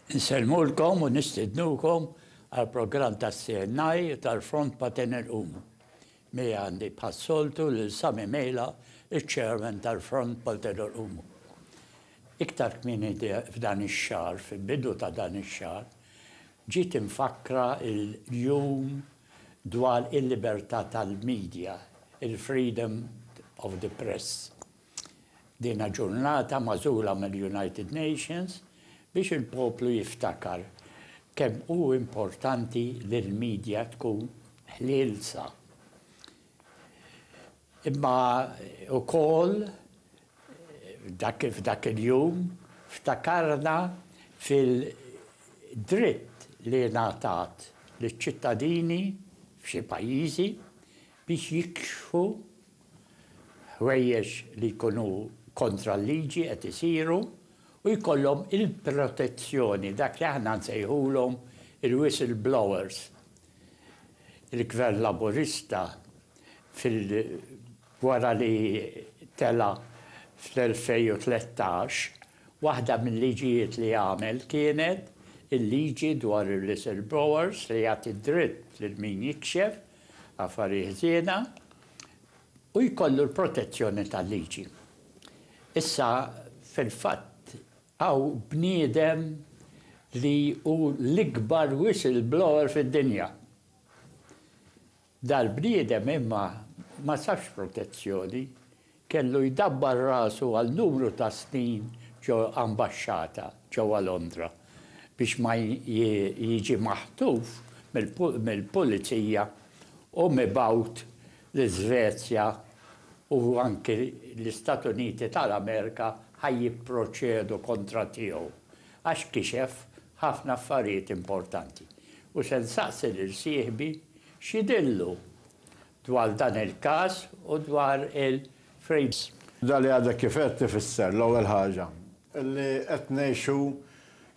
Nsellmulkom u nistidnukom għall-programm tas-CNI tal-Front Patenel Home. Miegħi għandi bħas-soltu lil Sami Mejla, iċ-Chairman tal-Front Malti Dwar Umu. Iktar kmieni f'dan ix-xahar, fil-bidu ta' dan ix-xahar, ġiet imfakkra l-Jum dwar il-Libertà tal-Media, il-Freedom of the Press. Dina ġurnata magħżula mill-United Nations biex il-poplu jiftakar kemm hu importanti li l-media tkun ħlielsa. Imma ukoll dak f'dak il-jum ftakarna fil-dritt li ngħatat liċ-ċittadini f'xi pajjiżi biex jikxfu ħwejjeġ li jkunu kontra l-liġi qed isiru u jkollhom il-protezzjoni, dak li aħna nsejħulhom il-whistle blowers. Il-Gvern Laburista fil wara li tela' fl-2013, waħda mil-liġijiet li għamel kienet il-liġi dwar il-whistle blowers li jagħti d-dritt lil min jikxef affarijiet ħżiena, u jkollu l-protezzjoni tal-liġi. Issa, fil-fatt, hawn bniedem li hu l-ikbar whistleblower fid-dinja. Dal-bniedem imma ma sabx protezzjoni, Kellu jdabbar rasu għal numru ta' snin ġo ambaxxata ġewwa Londra biex ma jiġi maħtuf mill-pulizija u mibgħut l-Iżvezja u anki l-Istat Uniti tal-Amerika ħa jipproċedu kontra tiegħu għax kixef ħafna affarijiet importanti u se nsaqsi lil sieħbi x'jidhirlu dwar dan il-każ u dwar il-frames. Dak li għadek kif għedt ifisser, l-ewwel ħaġa, li qed ngħixu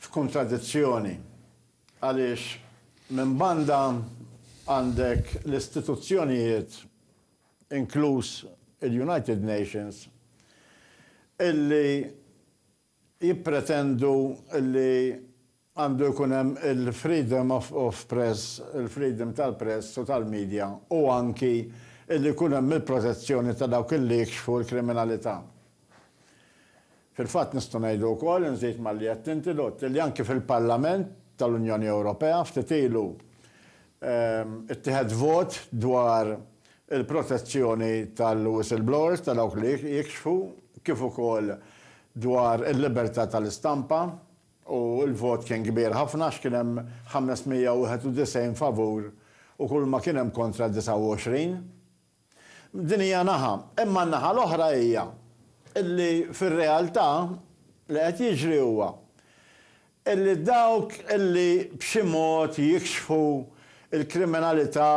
f'kuntradizzjoni għaliex minn banda għandek l-istituzzjonijiet, inkluż il-United Nations, illi jippretendu li għandu jkun hemm il-freedom of press, il-freedom tal-press u tal-media u anki li jkun hemm il-protezzjoni ta' dawk illi jikxfu l-kriminalità. Fil-fatt nistgħu ngħidu wkoll, inżid malli għedt inti Lott, illi anki fil-Parlament tal-Unjoni Ewropea ftit ilu ittieħed vot dwar il-protezzjoni tal-whistleblowers, ta' dawk li jikxfu, kif ukoll dwar il-libertà tal-istampa, u l-vot kien kbir ħafna għax kien hemm 591 favur u kulma kien hemm kontra 29. Din hija naħa, imma n-naħa l-oħra hija illi fir-realtà li qed jiġri huwa illi dawk illi b'xi mod jikxfu l-kriminalità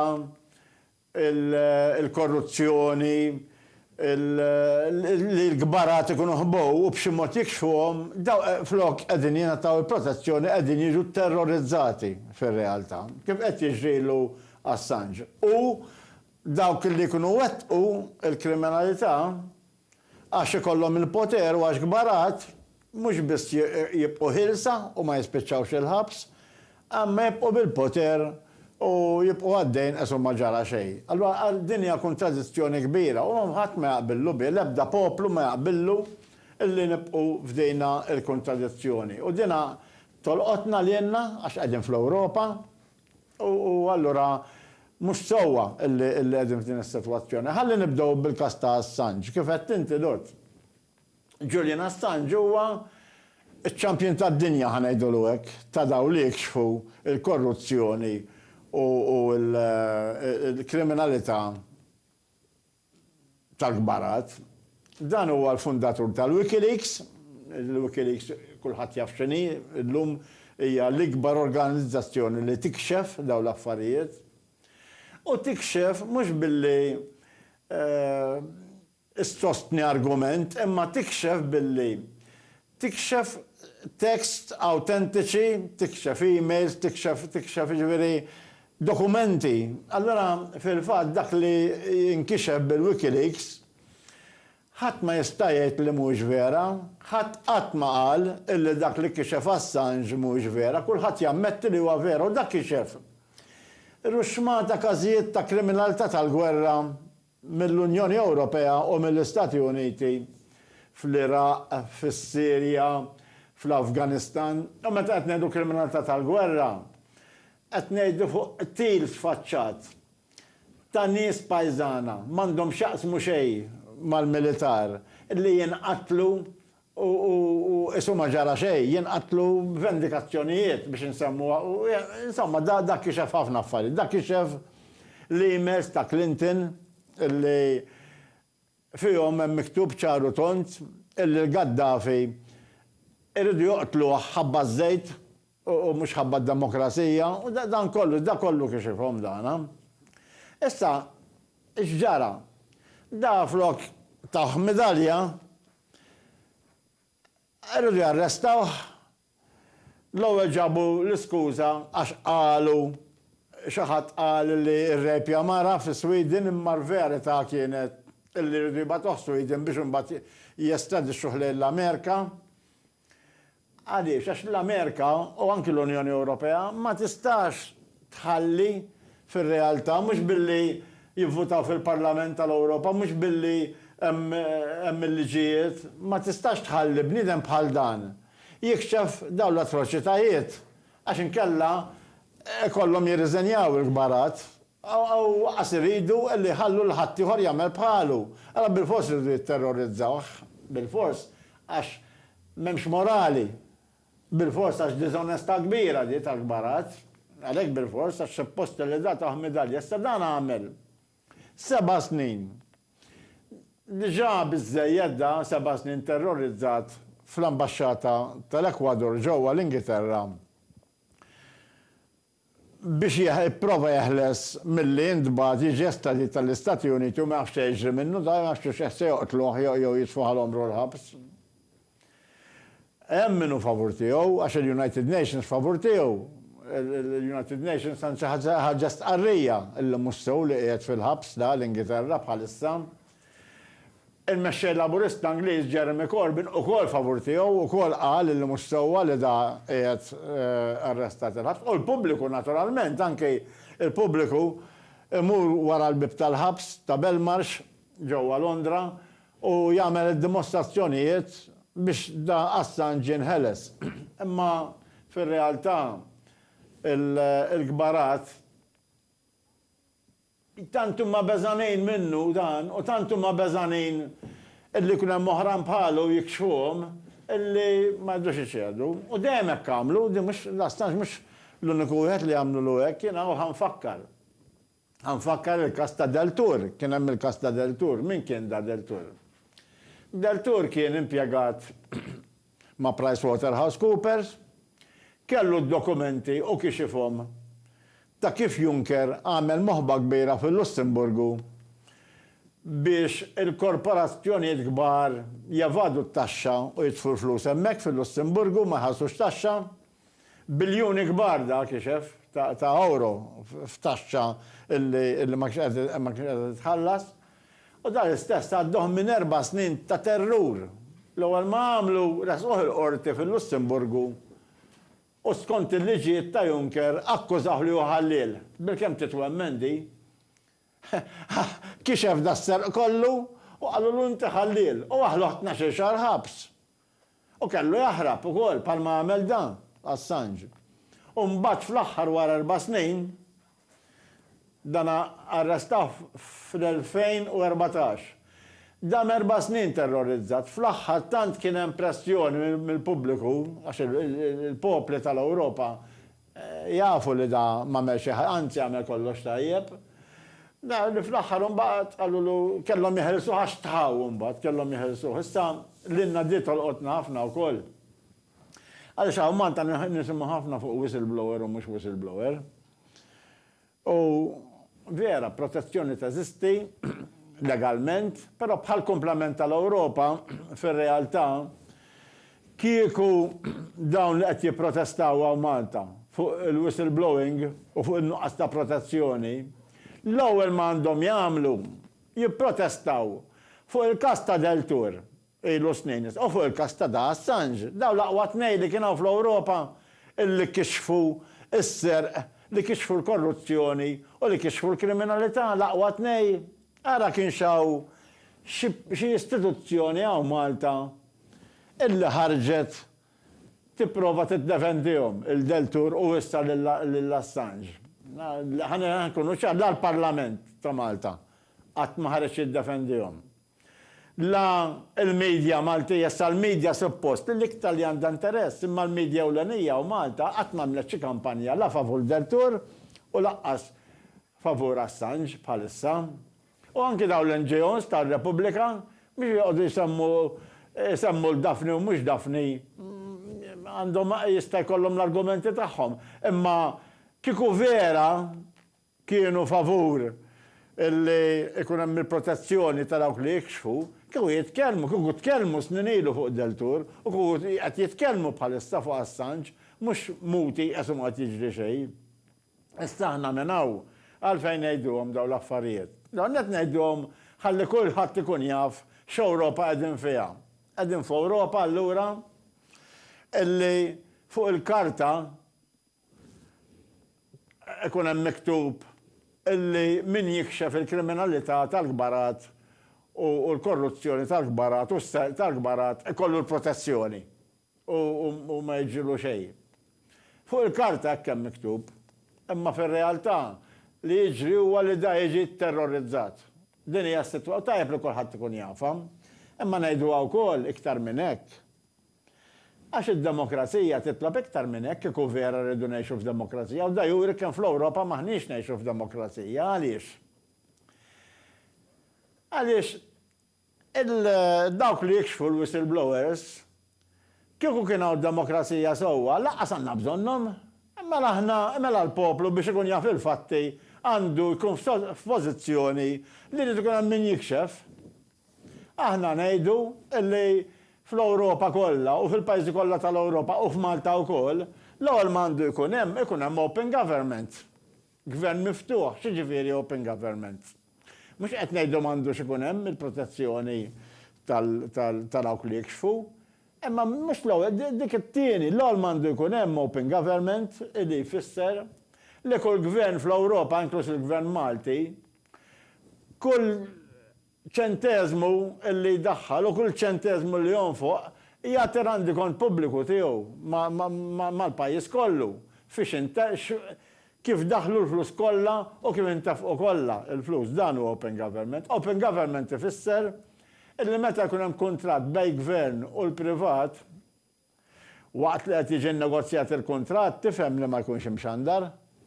il-korruzzjoni, li l-kbarat ikunu ħbow u b'xi mod jikxfuhom, dawk flok qegħdin jingħataw il-protezzjoni qegħdin jiġu tterrorizzati fir-realtà, kif qed jiġri l Assange. U dawk li jkunu wettqu l-kriminalità, Għax ikollhom il-poter u għax kbar għad, mhux biss jibqgħu ħielsa u ma jispiċċawx il-ħabs, imma jibqgħu bil-poter u jibqgħu għaddejjin qes u ma ġara xejn. Allura din hija kuntradizzjoni kbira u ħadd ma jaqbillu biha, l-ebda poplu ma jaqbillu li nibqgħu f'dina l-kuntradizzjoni. U dina tolqotna lilna għax qegħdin fl-Ewropa, U allura mhux sewwa li qegħdin f'din is-sitwazzjoni. Ħalli nibdew bil-każ ta' Assange. Kif għedt inti, Lord, Julian Assange huwa ċ-champion tad-dinja, ħa ngħidulu hekk, ta' dawk li jikxfu l-korruzzjoni u l-kriminalità. tal-kbarat. Dan huwa l-fundatur tal-WikiLeaks. Il-WikiLeaks kulħadd jaf x'inhi llum, hija l-ikbar organizzazzjoni li tikxef dawn l-affarijiet. U tikxef mhux billi ssostni argument imma tikxef billi Tikxef texts awtentiċi, tikxef emails, tikxef, tikxef, jiġifieri dokumenti. Allura, fil-fatt, dak li jinkixef bil-WikiLeaks, ħadd ma jista' jgħid li mhuwiex vera. Ħadd qatt ma qal illi dak li kixef Assange mhuwiex vera. Kulħadd jammetti li huwa vera u dak kixef ruxxmata każijiet ta' kriminalità tal-gwerra mill-Unjoni Ewropea u mill-Istati Uniti fl-Iraq, fis-Sirja, fl-Afganistan, u meta qed ngħidu kriminalità tal-gwerra, qed ngħidu fuq qtil sfaċċat ta' nies pajżana, m'għandhom x'jaqsmu xejn mal-militar, li jinqatlu u qisu ma ġara xejn, jinqatlu vendikazzjonijiet biex insemmuha u insomma dak kixef ħafna affarijiet. Dak kixef l-emails ta' Clinton illi fihom hemm miktub ċar u tond illi l-Gaddafi jridu joqtluh ħabba ż-żejt u mhux ħabba d-demokrazija, u dan kollu, dak kollu kixifhom dan. Issa, x'ġara? Da flok tawh midalja, riedu jarrestawh, l-ewwel ġabu l-iskuża għax qalu, xi ħadd qal li rrejpja mara fi Sweden imma l-verità kienet li riedu jibgħatuh Sweden biex imbagħad jestradixxuh lejn l-Amerika. Għaliex? Għax l-Amerika u anki l-Unjoni Ewropea ma tistax tħalli fir-realtà, mhux billi jivvutaw fil-Parlament tal-Ewropa, mhux billi hemm il-liġijiet, ma tistax tħalli bniedem bħal dan jikxef dawn l-atroċitajiet għax inkella ikollhom jirriżenjaw il-kbarat u aqqas iridu li jħallu lil ħaddieħor jagħmel bħalu. Allura bilfors iridu jitterrorizzawh, bilfors, għax M'hemmx morali. Bilfors għax diżonestà kbira di tal-kbarazz. Għalhekk bilfors għax suppost li tagħtuh midalja. Issa dan għamel seba' snin. Diġà biżżejjed da, seba' snin terrorizzat fl-ambaxxata tal-Ekwador ġewwa l-Ingilterra biex jipprova jeħles milli jintbagħat jiġi estradit għall-Istati Uniti u ma jafx se jiġri minnu, dan għax xi xeħ se joqtluh jew jitfuh għal għomru l-ħabs. Hemm min hu favur tiegħu, għax il-United Nations favur tiegħu. Il-United Nations anzi ħarġet stqarrija li mhux sew li qiegħed fil-ħabs da l-Ingilterra bħalissa. Il-Mexxej Laburista Ingliż Jeremy Corbyn ukoll favur tiegħu, ukoll qal illi mhux sewwa li da qiegħed arrestat il-ħabs u l-pubbliku naturalment, anki l-pubbliku imur wara l-bieb tal-ħabs ta' Belmarsh ġewwa Londra u jagħmel id-dimostrazzjonijiet biex da Assange jinħeles. Imma fir-realtà il-kbarat. Tant huma beżgħanin minnu dan u tant huma beżgħanin illi jkun hemm oħrajn bħalu jikxfuhom illi ma jridux iċedu. U dejjem hekk għamlu, din mhux, daqstant mhux l-uniku wieħed li għamlulu hekk. Jiena hawn ħa nfakkar. Ħa nfakkar il-każ ta' Deltour. Kien hemm il-każ ta' Deltour. Min kien da Deltour? Deltour kien impjegat ma' PricewaterhouseCoopers, kellu d-dokumenti u kixifhom ta' kif Juncker għamel moħba kbira fil-Lussemburgu biex il-korporazzjonijiet kbar jevadu t-taxxa u jitfu l-flus hemmhekk fil-Lussemburgu u ma jħallsux taxxa. Biljuni kbar dak ixef ta' ewro f'taxxa illi ma kienx qed titħallas. U dan l-istess għadduh minn erba' snin ta' terrur. L-ewwel ma għamlu resquh il-Qorti fil-Lussemburgu u skont il-liġijiet ta' Juncker akkużawh li hu ħalliel. Bilkemm titwemmen di. Kixef das-serq kollu u qalulu inti ħalliel u aħluh tnax-il xahar ħabs. U kellu jaħrab ukoll bħalma għamel dan, Assange. U mbagħad fl-aħħar wara erba' snin, dana arrestawh fl-2014. Dam erba' snin terrorizzat, fl-aħħar tant kien hemm pressjoni mill-pubbliku, għax il-popli tal-Ewropa Jafu li da m'għamel xi ħaġa, anzi għamel kollox tajjeb. Naraw li fl-aħħar imbagħad qalulu kellhom jeħilsuh għax tħaw imbagħad kellhom jeħilsuh. Issa lilna di tolqotna ħafna wkoll. Għaliex hawn Malta nisimgħu ħafna fuq whistleblower u mhux whistleblower. U vera, protezzjoni teżisti legalment, però bħall-kumplament tal-Ewropa, fir-realtà, kieku dawn li qed jipprotestaw hawn Malta fuq il-whistleblowing u fuq in-nuqqas ta' protezzjoni, l-ewwel ma għandhom jagħmlu jipprotestaw fuq il-każ ta' Deltour. Ilu snin issa. U fuq il-każ ta' Da Assange, dawn l-aqwa tnejn li kien hawn fl-Ewropa li kixfu s-serq, li kixfu l-korruzzjoni u li kixfu l-kriminalità, l-aqwa tnej, ara kienx hawn xi xi istituzzjoni hawn Malta illi ħarġet tipprova tiddefendihom, il-Deltour u issa lil Assange. Ħa nkunu ċar, la l-Parlament ta' Malta qatt ma ħareġ jiddefendihom. La l-media Maltija, issa l-media suppost l-iktar li għandha interess, imma l-media ewlenija u Malta qatt m'għamlet xi kampanja la favur Deltour u lanqas favur Assange bħalissa. U anki dawn l-NGOs tar-Repubblika biex joqogħdu jsemmu jsemmu 'l Daphne u mhux Daphne għandhom jista' jkollhom l-argumenti tagħhom, imma kieku vera kienu favur li jkun hemm il-protezzjoni ta' dawk li jikxfu, kieku jitkellmu, kieku tkellmu snin ilu fuq Deltour u kieku qed jitkellmu bħalissa fuq Assange, mhux muti qes u ma qed jiġri xejn. Issa aħna minn hawn għalfejn ngħiduhom dawn l-affarijiet? L-ewwel nett ngħiduhom ħalli kulħadd ikun jaf x'Ewropa qegħdin fiha. Qegħdin f'Ewropa allura li fuq il-karta Ikun hemm miktub illi min jikxef il-kriminalità tal-kbarat u l-korruzzjoni tal-kbarat u s-serq tal-kbarat ikollu l-protezzjoni u ma jiġrilu xejn. Fuq il-karta hekk hemm miktub, imma fir-realtà li jiġri huwa li da jiġi tterrorizzat. Din hija s-sitwa u tajjeb li kulħadd ikun jafha. Imma ngħiduha wkoll iktar minn hekk, Għax id-demokrazija titlob iktar minn hekk, kieku vera rridu ngħixu f'demokrazija, u da juri kemm fl-Ewropa m'aħniex ngħixu f'demokrazija. Għaliex? Għaliex il-dawk li jikxfu l-whistleblowers, kieku kien hawn demokrazija sewwa, lanqas għandna bżonnhom. Mela aħna, mela l-poplu biex ikun jaf il-fatti għandu jkun f'pożizzjoni li jrid ikun hemm min jikxef. Aħna ngħidu li fl-Ewropa kollha u fil-pajjiżi kollha tal-Ewropa u f'Malta wkoll, l-ewwel ma għandu jkun hemm, ikun hemm open government. Gvern miftuħ, x'jiġifieri open government? Mhux qed ngħidu m'għandux ikun hemm il-protezzjoni ta' dawk li jikxfu, imma mhux l-ewwel, dik it-tieni, l-ewwel ma għandu jkun hemm open government li jfisser li kull gvern fl-Ewropa, inkluż il-gvern Malti, Kull ċenteżmu li jdaħħal u kull ċenteżmu li jonfoq jagħti rendikont pubbliku tiegħu mal-pajjiż kollu fiex kif daħlu l-flus kollha u kif intefqu kollha l-flus. Dan hu open government. Open government ifisser illi meta jkun hemm kuntratt bejn gvern u l-privat, Waqt li qed jiġi nnegozjat il-kuntratt tifhem li ma jkunx imxandar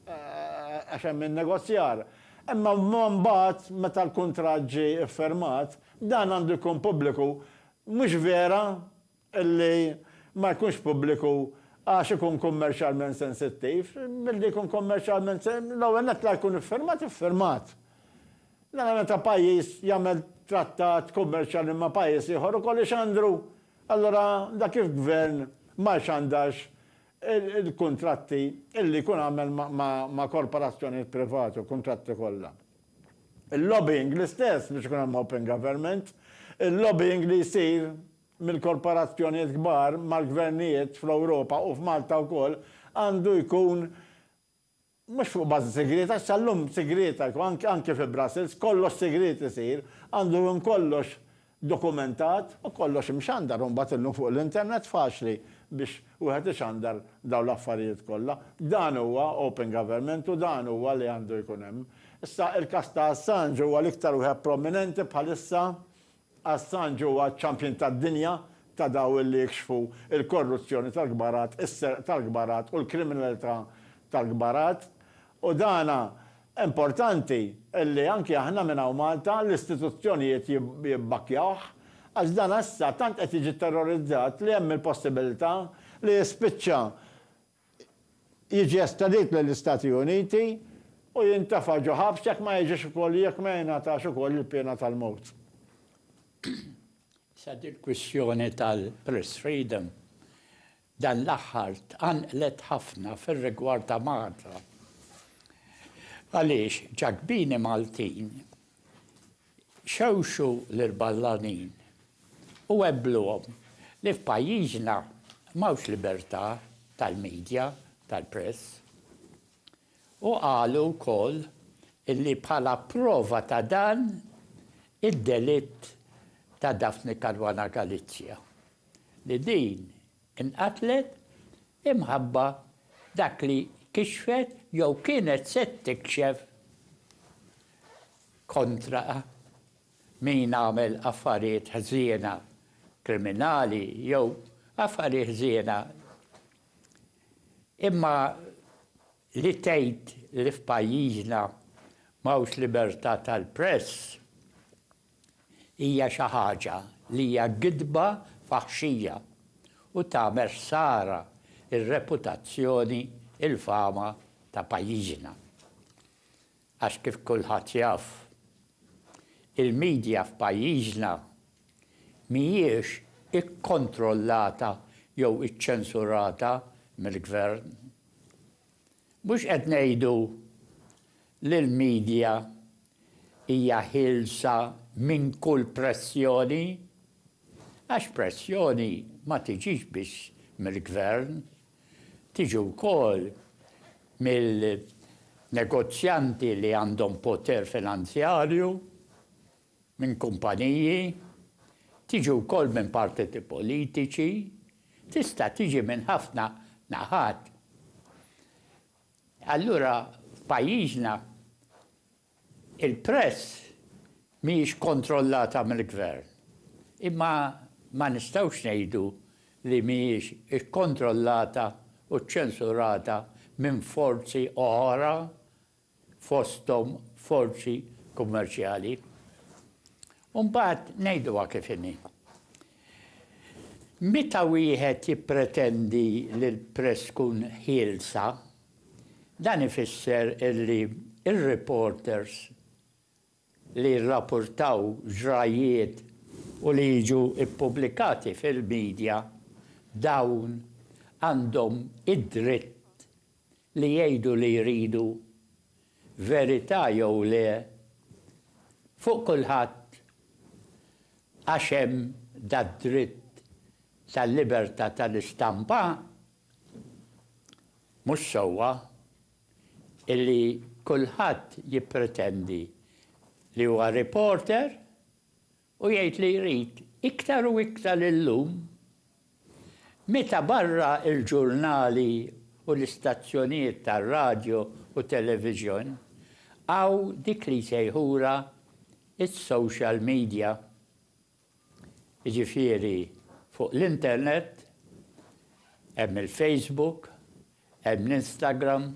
għax hemm in-negozjar. Imma mbagħad meta l-kuntratt ġie iffirmat, dan għandu jkun pubbliku. Mhux vera li ma jkunx pubbliku għax ikun kummerċjalment sensittiv. Milli jkun kummerċjalment, l-ewwel nett la jkun iffirmat iffirmat. Nara meta pajjiż jagħmel trattat kummerċjali ma' pajjiż ieħor ukoll ixandru Allura dak il-gvern ma jxandarx il-kuntratti illi jkun għamel ma' korporazzjonijiet privati, il-kuntratti kollha. Il-lobbying l-istess biex ikun hemm open government, il-lobbying li jsir mill-korporazzjonijiet kbar mal-gvernijiet fl-Ewropa u f'Malta wkoll għandu jkun Mhux fuq bażi sigrieta, għax sal-lum sigrieta jkun, anki fi Brussels, kollox sigriet isir, għandu jkun kollox dokumentat u kollox imxandar u mbagħad illum fuq l-internet faċli biex wieħed ixandar dawn l-affarijiet kollha. Dan huwa open government u dan huwa li għandu jkun hemm. Issa, il-każ ta' Assange huwa l-iktar wieħed prominenti bħalissa Assange huwa ċ-champion tad-dinja ta' daw li jikxfu l-korruzzjoni tal-kbarat, is-serq tal-kbarat u l-kriminalità tal-kbarat. U dan importanti li anki aħna minn hawn Malta, l-istituzzjonijiet jibbakkjawh, għax dan issa tant qed jiġi terrorizzat li hemm il-possibilità li jispiċċa jiġi estradit lill-Istati Uniti u jintefa' ġo ħabs jekk ma jiġix ukoll jekk ma jingħatax ukoll il-piena tal-mewt. Issa dil-kwistjoni tal-press freedom dan l-aħħar tqanqlet ħafna fir-rigward ta' Malta għaliex ġakbini Maltin, Xewxu lill-ballanin u għebbluhom li f'pajjiżna m'hawnx libertà tal-media, tal-press. U qalu wkoll li bħala prova ta' dan id-delitt ta' Daphne Caruana Galizia, li din Inqatlet imħabba dak li kixfet jew kienet se tikxef kontra min għamel affarijiet ħżiena, kriminali jew affarijiet ħżiena. Imma li tgħid li f'pajjiżna m'hawnx libertà tal-press, hija xi ħaġa li hija gidba faħxija u tagħmel ħsara r-reputazzjoni, il-fama ta' pajjiżna. Għax kif kulħadd jaf, il-media f'pajjiżna mhijiex ikkontrollata jew iċċensurata mill-Gvern. Mhux qed ngħidu li l-media Hija ħielsa minn kull pressjoni, għax pressjoni ma tiġix biss mill-Gvern, tiġi wkoll mill-negozjanti li għandhom poter finanzjarju, minn kumpaniji, tiġi wkoll minn partiti politiċi, tista' tiġi minn ħafna naħat. Allura f'pajjiżna il-press mhijiex kontrollata mill-Gvern. Imma ma nistgħux ngħidu li mhijiex ikkontrollata u ċċensurata minn forzi oħra fosthom forzi kummerċjali. U mbagħad ngħiduha kif inhi. Meta wieħed jippretendi li l-press tkun ħielsa, dan ifisser li r-reporters li jirrapurtaw ġrajjiet u li jiġu ppubblikati fil-midja, dawn għandhom id-dritt li jgħidu li jridu, verità jew le, fuq kulħadd Għax hemm dad-dritt tal-libertà tal-istampa, mhux sewwa illi kulħadd jippretendi li huwa reporter u jgħid li jrid iktar u iktar illum Meta barra l-ġurnali u l-istazzjonijiet tar-radju u television, hawn dik li jsejħulha s-social media. Jiġifieri fuq l-internet hemm il-Facebook, hemm l-Instagram,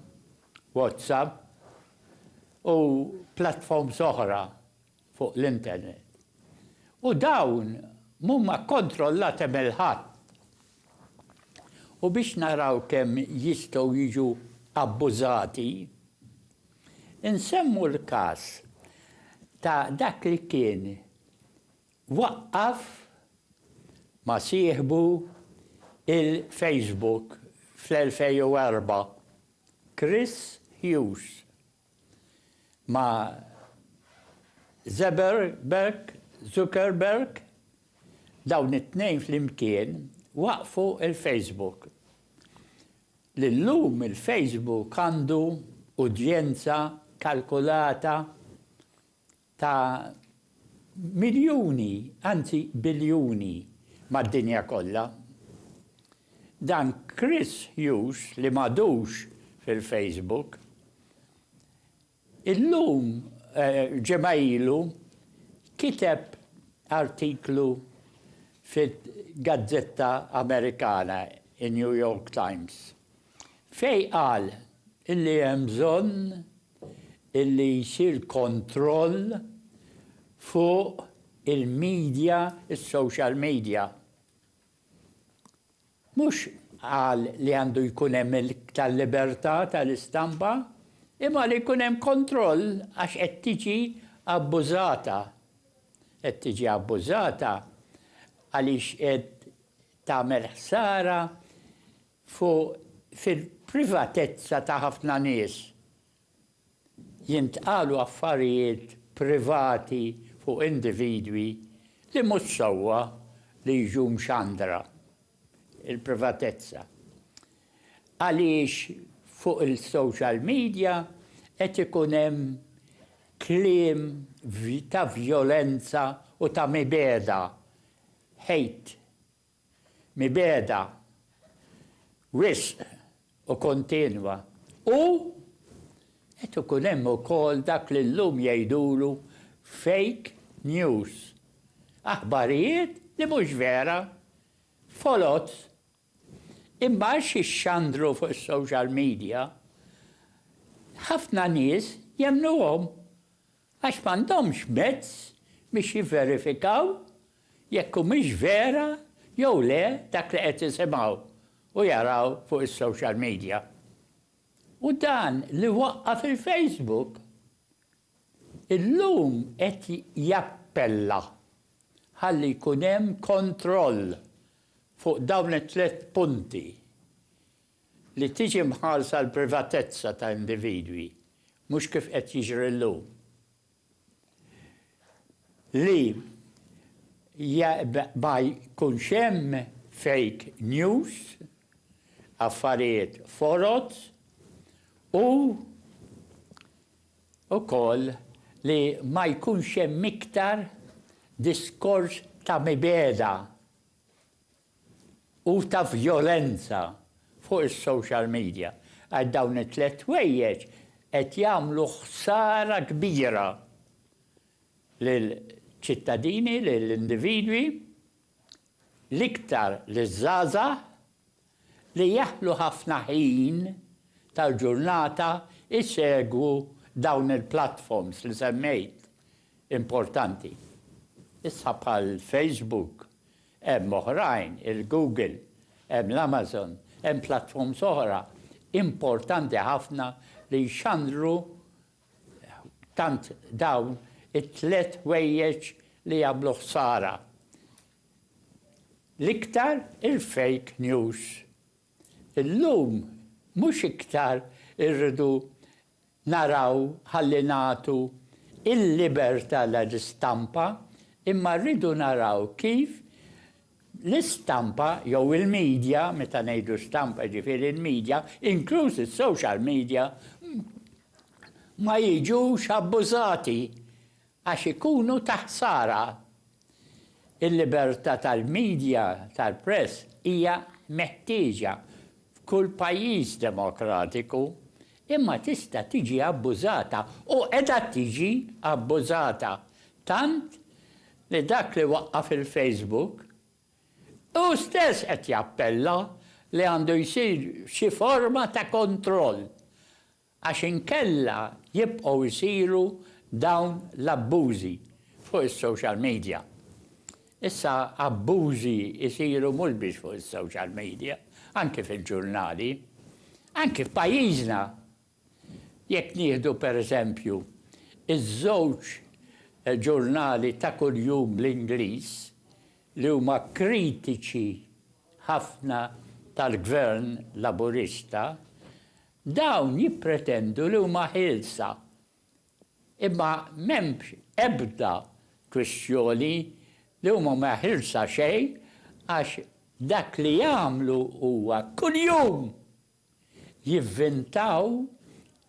WhatsApp u platforms oħra fuq l-internet u dawn mhuma kkontrollati mill ħadd u biex naraw kemm jistgħu jiġu abbużati, insemmu l-każ ta' dak li kien waqqaf ma' sieħbu il-Facebook fl-2004, Chris Hughes. ma' Zeberberg, Zuckerberg, dawn it-tnejn flimkien waqqfu l-Facebook. Li llum il-Facebook għandu udjenza kalkulata ta' miljuni, anzi biljuni, mad-dinja kollha. Dan Chris Hughes li m'għadux fil-Facebook, illum, ġimgħa ilu, kiteb artiklu fil-gazzetta Amerikana, in-New York Times, Fejn qal illi hemm bżonn illi jsir kontroll fuq il-media, is-social media. Mhux qal li għandu jkun hemm iktar libertà tal-istampa, imma li jkun hemm kontroll għax qed tiġi abbużata. Qed tiġi abbużata għaliex qed tagħmel ħsara Fu fil-privatezza ta' ħafna nies jintqalu affarijiet privati fuq individwi li mhux sewwa li jiġu mxandra. Il-privatezza. Għaliex fuq il-social media qed ikun hemm kliem ta' vjolenza u ta' mibegħda, hate, mibegħda wisq u kontinwa u qed ikun hemm ukoll dak li llum jgħidulu fake news, aħbarijiet li mhux vera, foloz, imma għax jixxandru fuq is-social media, ħafna nies jemmnuhom Għax m'għandhomx mezz biex jivverifikaw jekk humiex vera jew le dak li qed isimgħu u jaraw fuq is-social media. U dan li waqqa' fil-Facebook illum qed jappella ħalli jkun hemm kontroll fuq dawn it-tliet punti Li tiġi mħarsa l-privatezza ta' individwi, mhux kif qed jiġri llum, li ma jkunx hemm fake news, affarijiet foloz u wkoll li ma jkunx hemm iktar diskors ta' mibegħda. u ta' vjolenza fuq is-social media għax dawn it-tliet ħwejjeġ qed jagħmlu ħsara kbira lill-ċittadini, lill-individwi, l-iktar liż-żgħażagħ li jaħlu ħafna ħin tal-ġurnata jsegwu dawn il-platforms li semmejt importanti issa bħal Facebook, Hemm oħrajn, il-Google, hemm l-Amazon, hemm platforms oħra importanti ħafna li jxandru tant dawn it-tliet ħwejjeġ li jagħmlu ħsara. L-iktar il-fake news. Illum mhux iktar irridu naraw ħalli nagħtu l-libertà lill-istampa imma rridu naraw kif l-istampa jew il-media, meta ngħidu stampa jiġifieri l-media, inkluż is-social media, ma jiġux abbużati Għax ikunu ta' ħsara. Il-libertà tal-midja, tal-press, hija meħtieġa f'kull pajjiż demokratiku, imma tista' tiġi abbużata u qiegħda tiġi abbużata, tant li dak li waqqaf il-Facebook hu stess qed jappella li għandu jsir xi forma ta' kontroll għax inkella jibqgħu jsiru dawn l-abbużi fuq is-social media. Issa abbużi jsiru mhux biss fuq is-social media, anki fil-ġurnali, anki f'pajjiżna. Jekk nieħdu per eżempju ż-żewġ ġurnali ta' kuljum bl-Ingliż li huma kritiċi ħafna tal-Gvern Laburista, Dawn jippretendu li huma ħielsa, imma m'hemmx ebda kwistjoni li huma ma ħilsa xejn għax dak li jagħmlu huwa kuljum jivvintaw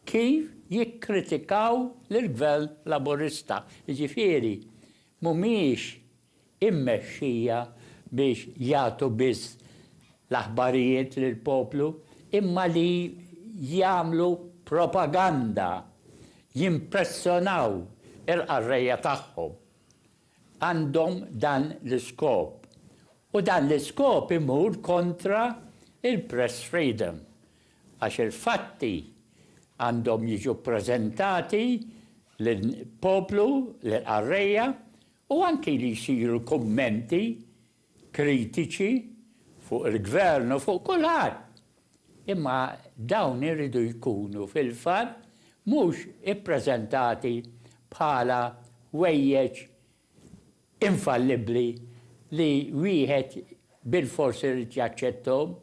kif jikkritikaw lill-Gvern Laburista, jiġifieri m'humiex immexxija biex jagħtu biss l-aħbarijiet lill-poplu imma li jagħmlu propaganda, jimpressonaw il-qarrejja tagħhom. Għandhom dan l-iskop. U dan l-iskop imur kontra il-press freedom għax il-fatti għandhom jiġu ppreżentati lill-poplu, lill-qarrejja, u anki li jsiru kummenti kritiċi fuq il-Gvern u fuq kulħadd, imma dawn iridu jkunu fil-fatt mhux ippreżentati bħala ħwejjeġ infallibbli li wieħed bilfors irid jaċċetthom.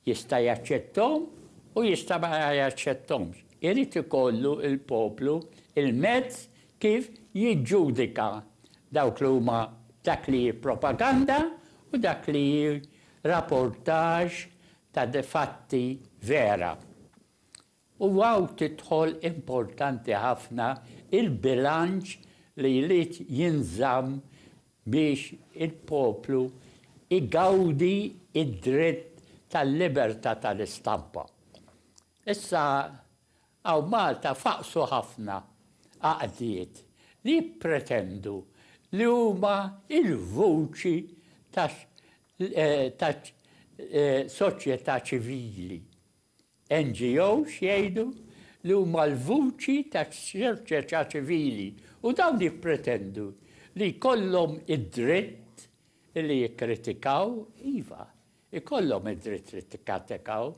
Jista' jaċċetthom u jista' ma jaċċetthomx. Irid ikollu l-poplu l-mezz kif jiġġudika dawk li huma dak li hi propaganda u dak li hi rapportage ta' fatti vera. U hawn tidħol importanti ħafna l-bilanċ li jrid jinżamm biex il-poplu jgawdi d-dritt tal-libertà tal-istampa. Issa hawn Malta faqqsu ħafna għaqdiet li jippretendu li huma l-vuċi taċ-soċjetà ċivili. NGOs jgħidu li huma l-vuċi tas-soċjetà ċivili u dawn jippretendu li jkollhom id-dritt li jikkritikaw, iva, ikollhom id-dritt li tikkatikaw,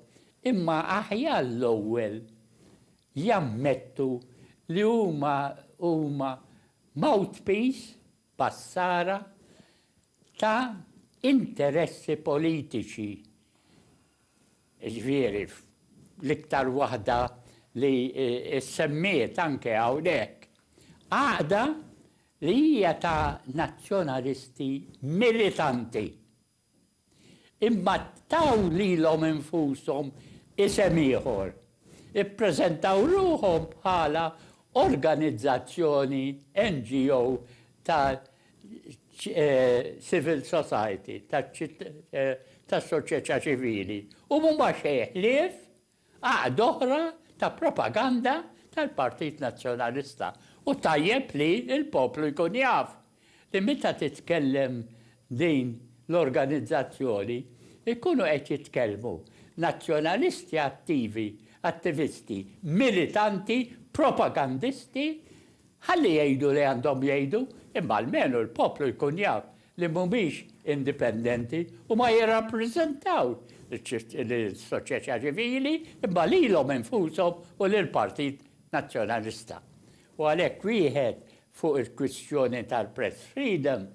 imma aħjar l-ewwel jammettu li huma huma mouthpiece, passara, ta' interessi politiċi. jiġifieri fl-iktar waħda li ssemmiet anke hawnhekk, għaqda li hija ta' nazzjonalisti militanti. Imma taw lilhom infushom isem ieħor, Ippreżentaw ruħhom bħala organizzazzjoni, NGO, ta' civil society, ta' soċjetà ċivili, u huma xejn ħlief għaqda oħra ta' propaganda tal-Partit Nazzjonalista. U tajjeb li l-poplu jkun jaf. li meta titkellem din l-organizzazzjoni jkunu qed jitkellmu nazzjonalisti attivi, attivisti, militanti, propagandisti, ħalli jgħidu li għandhom jgħidu imma almenu l-poplu jkun jaf li mhumiex indipendenti u ma jirrappreżentawx lis-soċjetà ċivili imma lilhom infushom u lill-Partit Nazzjonalista. U għalhekk wieħed Fuq il-kwistjoni tal-press freedom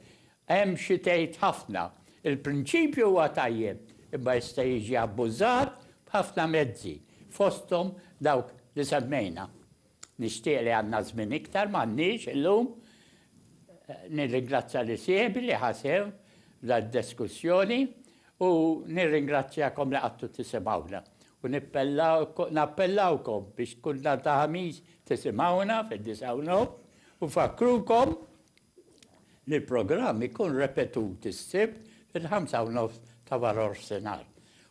hemm xi tgħid ħafna. Il-prinċipju huwa tajjeb imma jista' jiġi abbużat b'ħafna mezzi, fosthom dawk li semmejna. Nixtieq li għandna żmien iktar, m'għandniex illum. Nirringrazzja lis-sieħbi li ħa sehem f'dan id-diskussjoni U nirringrazzjakom li qgħadtu tisimgħuna, u nappellawkom biex kull nhar ta' Ħamis tisimgħuna fid-disgħa u nofs, u nfakkrukom li l-programm ikun repetut is-Sibt fil-ħamsa u nofs ta' warofsinhar.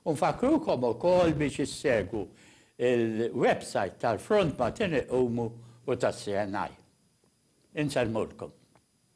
U nfakkrukom ukoll biex issegwu l-websajt tal-Front Maltin Iqumu u tas-CNI. Insellmulkom.